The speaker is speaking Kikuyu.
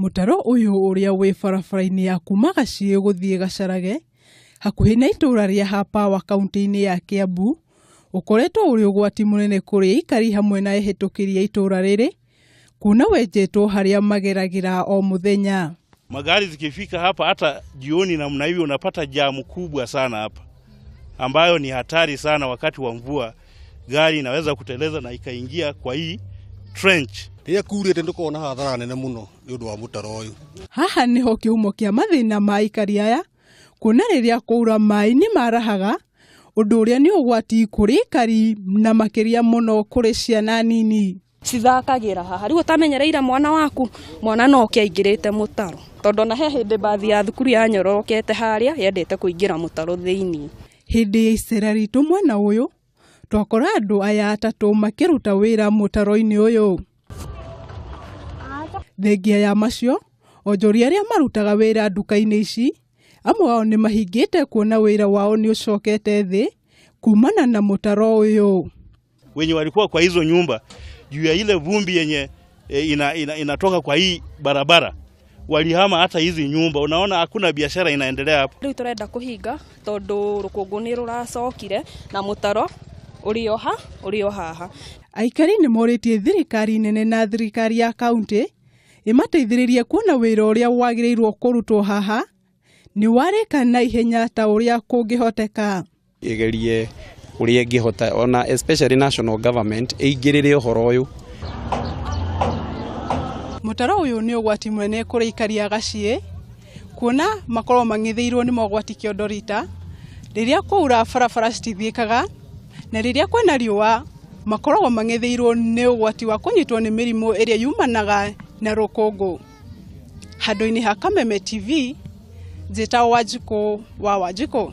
Mũtaro ũyũ ũrĩa wĩ barabara-inĩ ya kuma Gaciĩ gũthiĩ Gacarage hakuhĩ na itũra rĩa Hapawa kaunti-inĩ ya Kiambu ũkoretwo ũrĩ ũgwati mũnene kũrĩ aikari hamwe na ehĩtũkĩri a itũra rĩrĩ kuona wenjetwo harĩa mageragĩra o mũthenya. Magari zikifika hapa hata jioni namna hivi unapata jamu kubwa sana hapa. ambayo ni hatari sana. Wakati wa mvua gari inaweza kuteleza na ikaingia kwa hii trench. rä kurite nä kona hathara nene må no nä å ndå wa må taro å yå haha nĩho kĩhumo kĩa mathĩna ma aikari aya kuona rĩrĩa kwaura maĩ nĩ marahaga ũndũ ũrĩa nĩ ũgwati kũrĩ aikari na makĩria mũno kũrĩ ciana nini cithakagĩra haha rĩu ũtamenyereire mwana waku mwana no oke aingĩrĩte mũtaro tondũ na he hĩndĩ mbathi ya thukuru ya nyororokete harĩa yendete kũingĩra mũtaro thĩinĩ hĩndĩ ya icera ritũ mwena ũyũ twakora andũ aya atatũ makĩruta wĩra mũtaro-inĩ ũyũ thengia ya macio onjoria arĩa marutaga wĩra nduka-inĩ ici amwe ao nĩ mahingĩte kuona wĩra wao nĩ ũcokete thĩ kumana na mũtaro ũyũ Wenye walikuwa kwa hizo nyumba juu ya ile vumbi yenye e, ina, ina, inatoka kwa hii barabara walihama hata hizi nyumba. Unaona hakuna biashara inaendelea hapa. Riu turenda kuhinga tondu rukungu ni ruracokire na mutaro urioha urio haha. Aikari nĩ morĩtie thirikari nene na thirikari ya kaunti ĩmateithĩrĩrie kuona wĩra ũrĩa wagĩrĩirwo kũrutwo haha nĩ warĩka na ihenya ta ũrĩa kũngĩhoteka. ĩgerie ũrĩa ĩngĩhota ona especially national government ĩingĩrĩre ũhoro ũyũ Mũtaro ũyũ nĩ ũgwati mũnene kũrĩ aikari a Gaciĩ kuona makorwo mang'ithĩirwo nĩ mogwati kĩondo rita rĩrĩa kwaura barabara citithiĩkaga na rĩrĩa kwĩna riũa makoragwo mang'ithĩirwo nĩ ũgwati wa kũnyitwo nĩ mĩrimũ ĩrĩa yumanaga na rũkũngũ. Handũ-inĩ ha Kameme TV, njĩta Wanjikũ wa Wanjikũ.